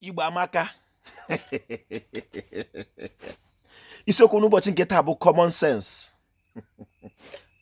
Igbo amaka isiokwu n'ụbọchị nke taa bụ common sense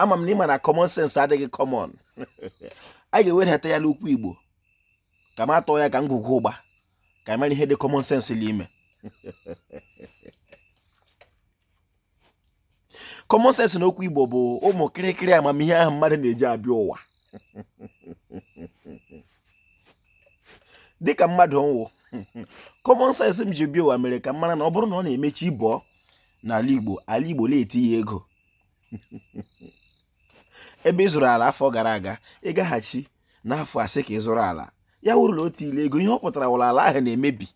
ama m na ị ma na common sense adịghị common a ga-ewedata ya n'okwu Igbo ka m atọ ya ka ngwugwu ụgba ka ị mara ihe dị common sense n'ime common sense na okwu igbo bụ ụmụ kịrịkịrị amamihe ahụ mmadụ na-eji abịa ụwa dịka mmadụ m wụ common sense m ji bịa ụwa mere ka m mara na ọ bụrụ na ọ na-eme chi bọọ n'ala igbo ala igbo na-etiye ego ebe ị zụrụ ala afọ gara aga ị gaghachi n'afọ a sị ka ị zụrụ ala ya wụrụ na o tiile ego ihe ọ pụtara wụ na ala ahụ na-emebi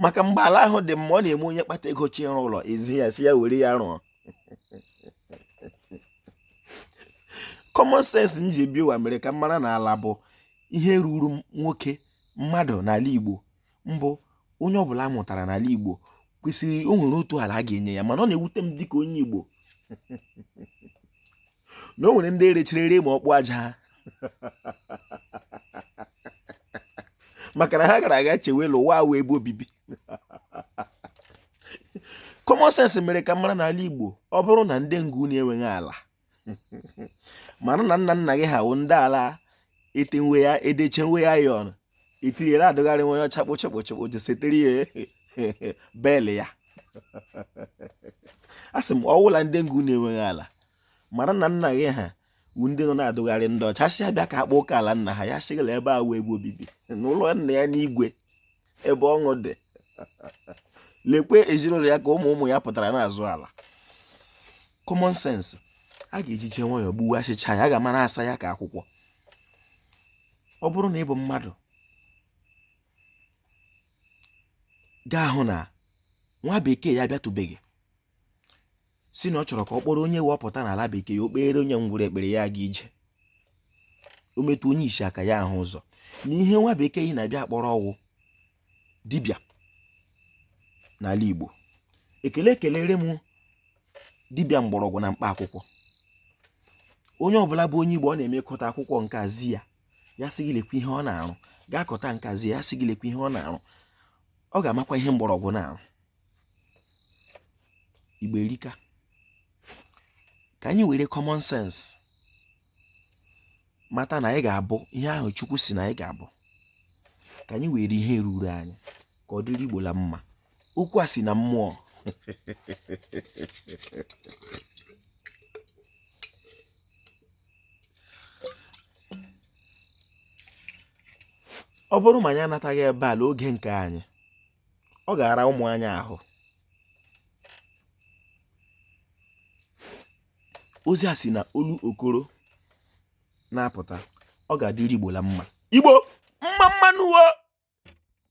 maka mgbe ala ahụ dị mma ọ na-eme onye kpata ego chọ ịrụ ụlọ e zi ya sị ya were ya rụọ common sense m ji bịa ụwa mere ka m mara na ala bụ ihe ruru nwoke mmadụ n'ala Igbo mbụ onye ọbụla a mụtara n'ala Igbo kwesịrị o nwere otu ala a ga-enye ya mana ọ na-ewute m dịka onye Igbo na o nwere ndị erechiri ere ma ọkpụ aja ha maka na ha gara aga chewe na ụwa awụ ebe obibi common sense mere ka m mara n'ala Igbo ọ bụrụ na ndị nga unu enweghị ala mara na nna nna gị ha wụ ndị ala etenwe ya edechenwe ya ya ọnụ itiri ya na-adụgharị nwa onye ọcha kpochekpochekpo ji setere ya bel ya asị m ọ wụ na ndị nga unu enweghị ala mara na nna gị ha wụ ndị nọ na-adụgharị ndị ọcha si abịa ka akpọ ụka ala nna ha ya sị ha na ebe a awụ ebe obibi n'ụlọ nna ya n'igwe ebe ọṅụ dị lekwe ezinụlọ ya ka ụmụ ụmụ ya pụtara na-azụ ala common sense a ga-eji jee nwayọọ gbuwe achịcha ya a ga-ama na-asa ya ka akwụkwọ ọ bụrụ na ị bụ mmadụ ga-ahụ na nwa bekee ya abịatụbeghị sị na ọ chọrọ ka ọ kpọrọ onye wepụta n'ala bekee ya o kpeere onye ngwụrụ ekpere ya aga ije o metụ onye isi aka ya ahụ ụzọ na ihe nwa bekee yi na-abịa akpọrọ wụ dibịa n'ala Igbo ekele kelere m dibịa mgbọrọgwụ na mkpa akwụkwọ onye ọbụla bụ onye igbo ọ na-eme kọta akwụkwọ nke a zi ya ya sị gị lekwa ihe ọ na-arụ gaa kọta nke a zi ya sị gị lekwa ihe ọ na-arụ ọ ga-amakwa ihe mgbọrọgwụ na-arụ igbo erika ka anyị were common sense mata na anyị ga-abụ ihe ahụ chukwu sị na anyị ga-abụ ka anyị were ihe ruru anyị ka ọ dịrị igbo la mma okwu a si na mmụọ ọ bụrụ ma anyị anataghị ebe a n'oge nke anyị ọ ga-ara ụmụ anyị ahụ ozi a si na olu okoro na-apụta ọ ga-adịrị igbo la mma igbo mma mma nụ